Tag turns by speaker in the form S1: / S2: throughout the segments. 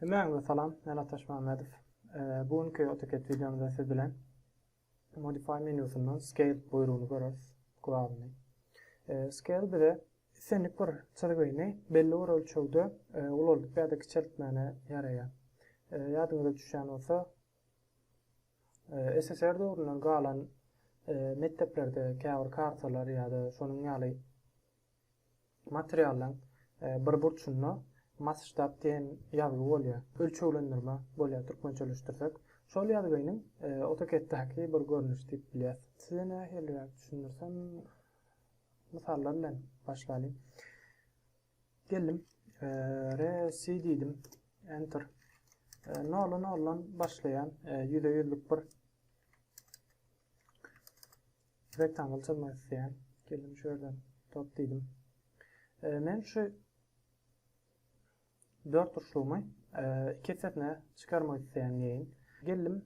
S1: Hemmäňize salam, men Ataş Mämmedow. Bu günki AutoCAD wideomyzda siz bilen Modify menýusyndan Scale buýrugyny göreris, guralyny. Scale bize islendik bir çyzgyny belli bir ölçegde ulaldyp ýa-da kiçeltmäne ýaraýar. Ýadyňyza düşýän bolsa, SSR döwründen galan mekdeplerde käbir kartalar ýa-da şonuň ýaly materiallaň bir burçunda Masştab diýen ýazgy bolýar. Ölçeglendirme bolýar türkmençeleşdirsek. Şol ýazgynyň AutoCAD-däki bir görnüşi diýip bilýäs. Size nähiliräk düşündirsem, mysallar bilen başlalyň. Geldim. Resi diýdim. Enter. Nola nolan başlaýan ýüze ýüzlük bir rektangl çyzmak isleýän. Geldim şu ýerden top diýdim. Men şu dört burçlugymy iki hissesine çykarmak isleýän diýeýin. Geldim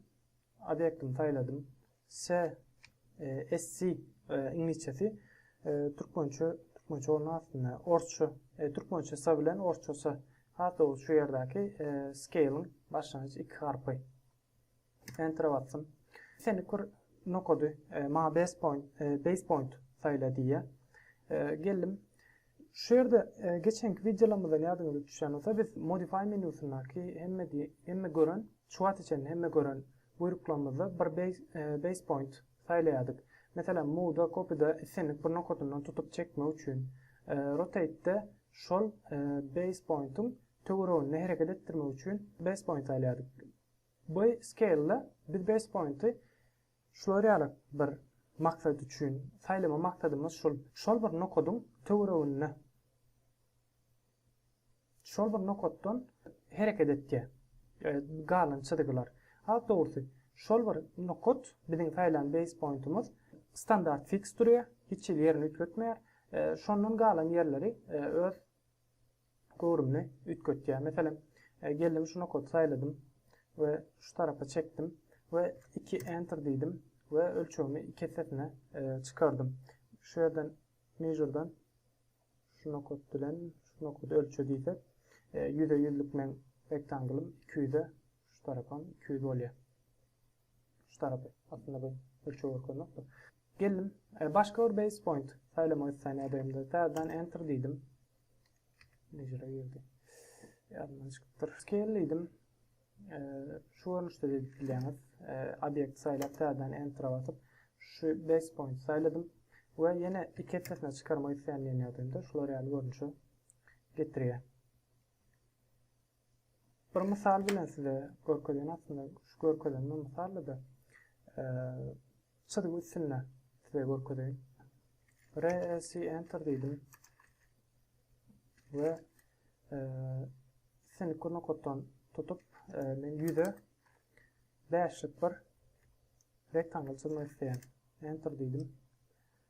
S1: Obýektimi saýladym. Se, e, SC, e, iňlisçesi, e, türkmençe, türkmençe bolma aslynda, orsça, e, türkmençe sa bilen orsça sa. Has dogry şu ýerdäki e, scale-iň başlangyç iki harpy. Enter-e basdym. Seni kur nokady, e, ma base point, e, base point saýla diýýär. E, geldim. Şu ýerde geçenki wideolarymyzdan ýadyňyza düşýän bolsa, biz Modify menýusyndaky hemme diýip, hemme gören, şu wagta çenli hemme gören buýruklarymyzda bir base point saýlaýardyk. Meselem, Move-da, Copy-da islendik bir nokadyndan tutup çekmek üçin, Rotate-de şol base point-iň töwereginde hereket etdirmek üçin base point saýlaýardyk. Bu Scale-de biz base point-i Şular ýaly bir maksat üçin saýlama maksadymyz şul. Şol bir nokadyň töwereginde şol bir nokatdan hereket etýär galan çyzgylar. Has dogrusy, şol bir nokat, biziň saýlan base pointymyz standart fiks durýar, hiç hili ýerini üýtgetmeýär. Şondan galan ýerleri öz göwrümini üýtgetýär. Meselem, geldim şu nokaty saýladym we şu tarapa çekdim we iki Enter diýdim we ölçegimi iki essesine çykardym. Şu ýerden Measure-dan şu nokat bilen şu nokady ölçe diýsek, ýüze ýüzlük meň rektanglym iki ýüze şu tarapam iki ýüz bolýar. Şu tarapy. Aslynda bu ölçeg görkeznokdur. Geldim, başga bir base point saýlamak isleýän ýagdaýymda täzeden Enter diýdim. Mecra geldi. Ýadymdan çykypdyr. Scale diýdim. Şu görnüşde edip bilýäňiz. Obyekt saýlap täzeden enter basyp, şu base point saýladym we ýene iki epesine çykarmak isleýän ýerdemde şular ýaly görnüşe getirýär. Bir mysal bilen size görkezýän aslynda şu görkezen bir mysalda çyzgy üstünde size görkezeýin. REC enter diýdim. Ve seni kur nokatdan tutup men yüze beşlik bir rektangl çizmek isteyen enter dedim.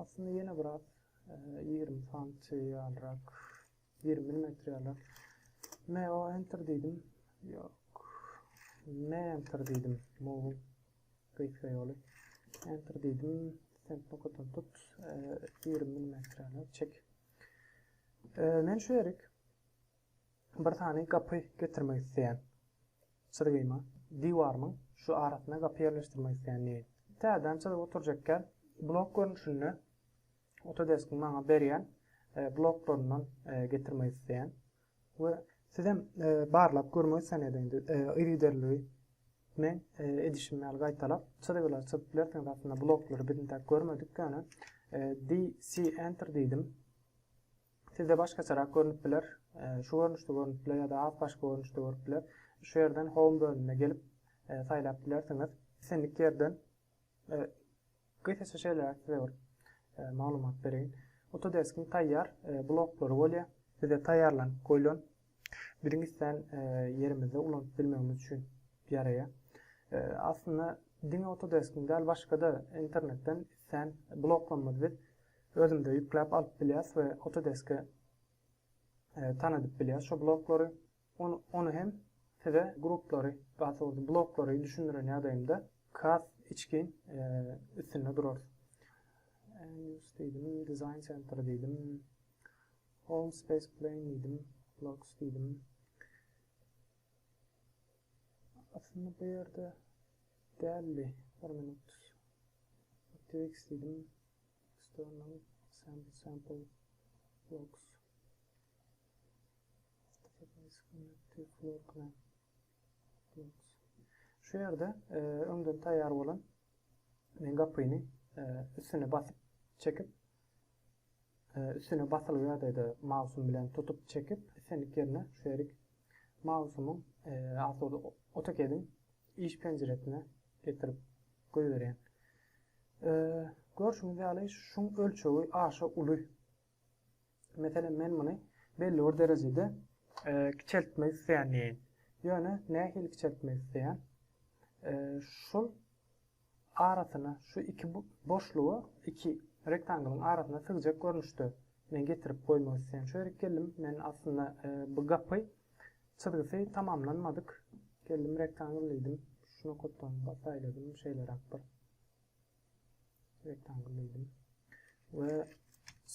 S1: Aslynda ýene biraz ýigrimi santy ýalyrak, ýigrimi millimetr ýalyrak. Meo enter diýdim. Ýok. Me enter diýdim. Move gysga ýoly. Enter diýdim. Sen nokatdan tut. Ýigrimi millimetr ýalyrak çek. Men şu ýerik bir sany gapy getirmek isleýän çyzgyma, diwarymyň şu arasyna gapy ýerleşdirmek isleýän diýeýin. Täzeden çyzyp oturjakgän blok görnüşinde Autodesk-iň maňa berýän e, bloklaryndan e, getirmek isleýän we siz hem e, barlap görmek isleýän ediňiz. Yzygiderligi men e, edişim ýaly gaýtalap çyzgylary çyzyp bilersiňiz. Aslynda bloklary biz intäk görmedik ýöne e, DC enter diýdim. Sizde başgaçarak görünip biler, şu görnüşde görünip biler ýa-da has başga görnüşde görüp biler. Şu ýerden Home bölümine gelip saýlap bilersiňiz. Islendik ýerden gysgaça şeýle size bir maglumat bereýin. Autodesk-iň taýýar bloklary bolýar. Bize taýýarlanyp goýlan biziň islän ýerimizde ulanyp bilmegimiz üçin ýaraýar. Aslynda diňe Autodesk-iň däl, başga-da internetden islän bloklarymyzy biz Özümde ýükläp alyp bilýas we Autodesk-e tanadyp bilýas şo bloklary. Ony hem size gruplary, daha dogrusu bloklary düşündiren ýagdaýymda has içgin üstünde durarys. Use diýdim, Design Center diýdim. Home Space Plane diýdim, Blocks diýdim. Aslynda bu ýerde däldi. Bir minut. Activex diýdim. External sample sample blocks Database connected floor plan blocks Şu ýerde e, öňden taýýar bolan men gapyny e, üstüne basyp çekip e, üstüne basylgy ýagdaýda mausum bilen tutup çekip islendik ýerine şu ýerik mausumyň e, AutoCAD-iň iş penjiresine getirip goýberýän. Görşüňiz ýaly, şuň ölçegi aşa uly. Meselem, men muny belli bir derejede kiçeltmek isleýändirin. Ýöne nähili kiçeltmek isleýän? Şul arasyna, şu iki boşluga, iki rektangylyň arasyna sygjak görnüşde men getirip goýmak isleýän. Şu ýerik geldim, men aslynda bu gapy Çyzgysy tamamlanmadyk. Geldim rektangl diýdim. Şu nokatdan saýladym şeýleräk bir rektangl diýdim. We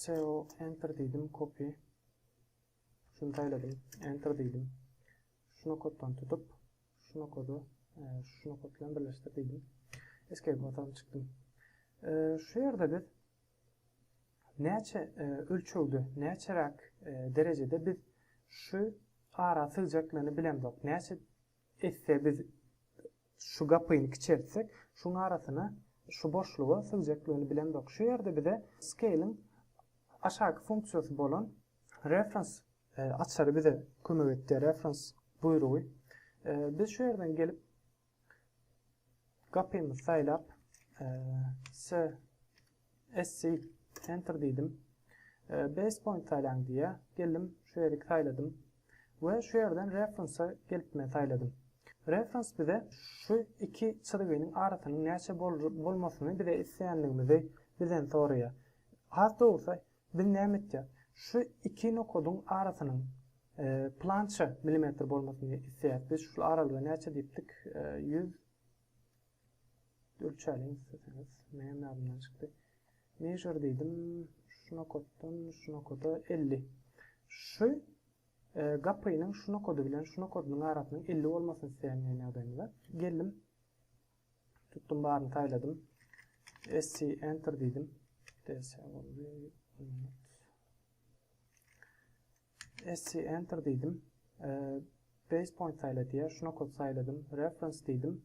S1: SEO enter diýdim, copy. Şuny saýladym, enter diýdim. Şu nokatdan tutup, şu nokady e, şu nokat bilen birleşdir diýdim. Escape basanym çykdym. E, şu ýerde biz Näçe ölçegde, näçeräk derejede biz şu ara sygjaklygyny bilemzok. Näçe esse biz şu gapyny kiçeltsek, şuň arasyna, şu boşluga sygjaklygyny bilemzok. Şu ýerde bize scale-iň aşaky funksiýasy bolan reference açary bize kömek etdi, reference buýrugy. Biz şu ýerden gelip, Gapymyzy saýlap, CSC Enter diýdim. Base point saýlaň diýýär. Geldim, şu ýeri saýladym we şu ýerden Reference-a gelip men saýladym. Reference bize şu iki çyzgynyň arasynyň näçe bolmasyny bize isleýänligimizi bizden soraýar. Has dogrusy, Biz näme etjek? Şu iki nokadyň arasynyň plança milimetr bolmasyny isleýäs. Biz şul aralyga näçe diýipdik? Ýüz ölçäliň isleseňiz. Meňem ýadymdan çykdy. Measure diýdim. Şu nokatdan şu nokada elli. Şu gapynyň şu nokady bilen şu nokadynyň arasynyň elli bolmasyny isleýän ýagdaýymyzda. Geldim. Tutdum baryny saýladym. SC enter diýdim. DS boldy. SC enter diýdim. E, base point saýla diýär. Şu nokady saýladym. Reference diýdim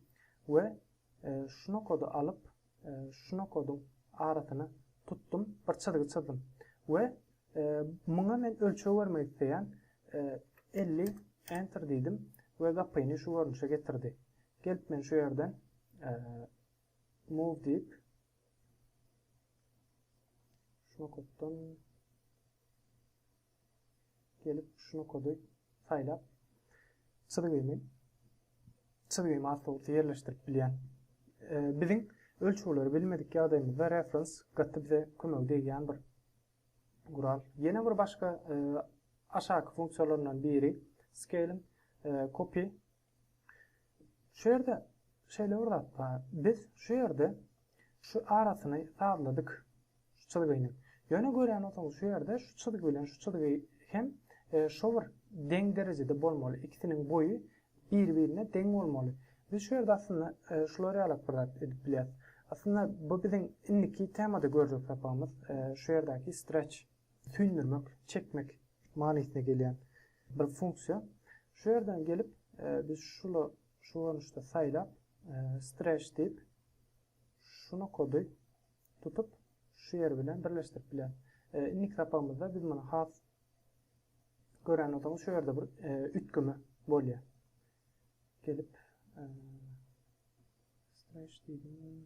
S1: we e, şu nokady alyp e, şu nokadyň arasyny tutdum, bir çyzgy çyzdym we e, muňa men ölçeg bermek isleýän e, 50 enter diýdim we gapyny şu görnüşe getirdi. Gelip men şu ýerden move diýip şu nokatdan gelip şu nokady saýlap çyzgymy çyzgymy asla ýerleşdirip bilýän. Biziň ölçegleri bilmedik ýagdaýymyzda reference gaty bize kömegi degýän bir gural. Ýene bir başga aşaky funksiýalaryndan biri scale copy Şu ýerde şeýle bir zat bar. Biz şu ýerde şu arasyny sazladyk şu çyzgynyň. Ýöne görýän bolsaňyz şu ýerde şu çyzgy bilen şu çyzgy hem şo bir deň derejede bolmaly. Ikisiniň boýy bir-birine deň bolmaly. Biz şu ýerde aslynda şular ýalak bir zat edip bilýäs. Aslynda bu biziň indiki temada görjek sapagymyz şu ýerdäki stretch. süýndürmek, çekmek manysyna gelýän bir funksiýa. Şu ýerden gelip, biz şuly şu görnüşde saýlap, stretch diýip, şu nokady tutup, şu ýer bilen birleşdirip bilen. Indiki sapagymyzda biz muny has gören bolsaňyz, şu ýerde bir üýtgeme bolýar. Gelip, stretch diýdim.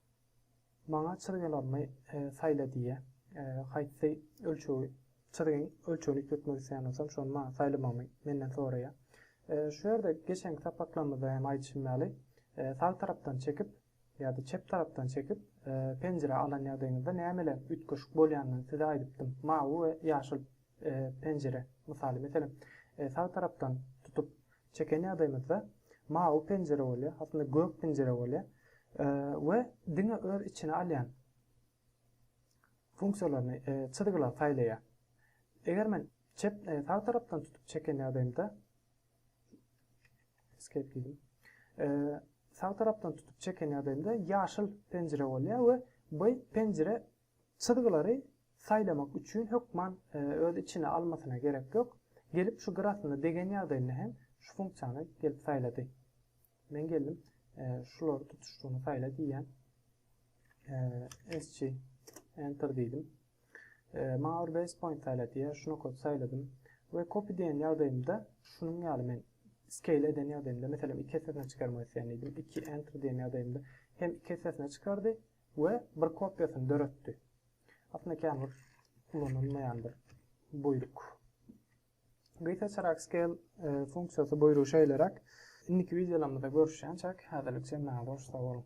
S1: Maňa çyzgylarymy saýla diýýär. Haýsy ölçegi, çyzgyň ölçegini üýtgetmek isleýän bolsam, şony maňa saýlamagymy menden soraýar. Şu ýerde geçenki sapaklarymyzda hem aýdyşym ýaly, sag tarapdan çekip ýa-da çep tarapdan çekip penjire alan ýagdaýyňyzda nämeler üýtgeşik bolýanyny size aýdypdym. Mawy we ýaşyl penjire mysaly. Meselem, sag tarapdan tutup Çeken ýagdaýymyzda mawy penjire bolýar, aslynda gök penjire bolýar we diňe öz içine alýan funksiýalaryny, çyzgylary saýlaýar. Eger men çep, sag tarapdan tutup çeken ýagdaýymda, escape diýdim. Sag tarapdan tutup çeken ýagdaýymda ýaşyl penjire bolýar we bu penjire Çyzgylary saýlamak üçin hökman öz içine almasyna gerek ýok. Gelip şu gyrasyna degen ýagdaýynda hem şu funksiýany gelip saýlady. Men geldim şulary tutuşdygyny saýla diýýän. Eschi enter diýdim. Maňa bir base point saýla diýýär. Şuna kod saýladym. We copy diýen ýagdaýymda şunuň ýaly men scale eden ýagdaýymda meselem iki esesine çykarmak isleýän diýdim. Iki enter diýen ýagdaýymda hem iki esesine çykardy we bir kopiýasyny döretdi. Aslynda känbir ulanylmaýandyr buýruk. Gysgaçyrak scale e, funksiýasy buýrugy şeýleräk. Indiki wideolarymyzda görüşýänçäk, häzirlikçe maňa goş sag boluň.